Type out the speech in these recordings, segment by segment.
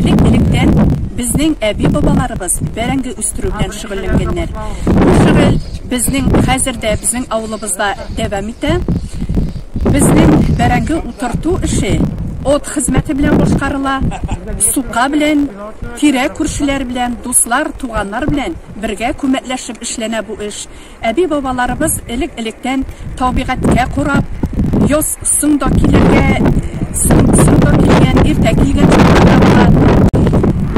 Элек-электән безнең әби-бабаларыбыз бәрәңге үстерү белән шөгыльләнгәннәр. Бу шөгыль безнең хәзер дә безнең авылыбызда дәвам итә. Безнең бәрәңге утырту эше от хезмәте белән башкарыла, сука белән, тирә-күршеләр белән, дуслар, туганнар белән бергә күмәкләшеп эшләнә бу эш. Әби-бабаларыбыз элек-электән табигатькә кораб, йоз соң да килергә, соң соң да килгән, иртә килгән чаклары була.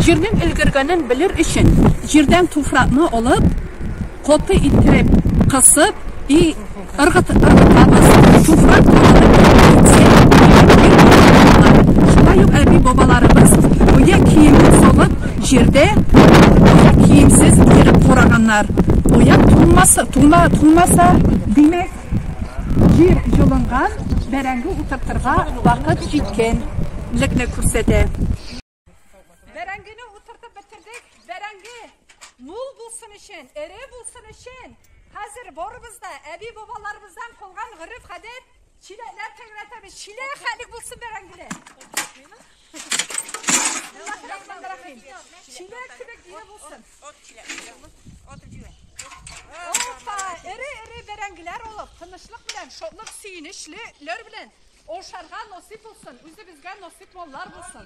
Җирнең өлгергәнен белер өчен, җирдән туфракны олып, каты иттереп кысып и ыргыт ыргытабыз. Туфрак калынып китсә, җир киң булып кала. Шулай ук әби-бабаларыбыз оя киемен салып, Җирдә куян киемсез йөреп караганнар. Куян туңмаса, туңа, туңмаса. Димәк, җир җылынган, бәрәңге утыртырга вакыт җиткән лекне күрсәтә. Бәрәңгене утыртып бетердек. Бәрәңге мул булсын өчен, эре булсын өчен, хәзер барыбыз да әби-бабаларыбыздан калган гореф-гадәт, Чиләкләр тәгәрәтәбез. Чилә хәлек булсын бәрәңгеле. Чиләк кебек ие булсын. От чиләк. От чиләк. Опа, эре-эре бәрәңгеләр алып, тынычлык белән, шатлык, сөенечлеләр белән ашарга насыйп булсын. Үзебезгә насыйп маллар булсын.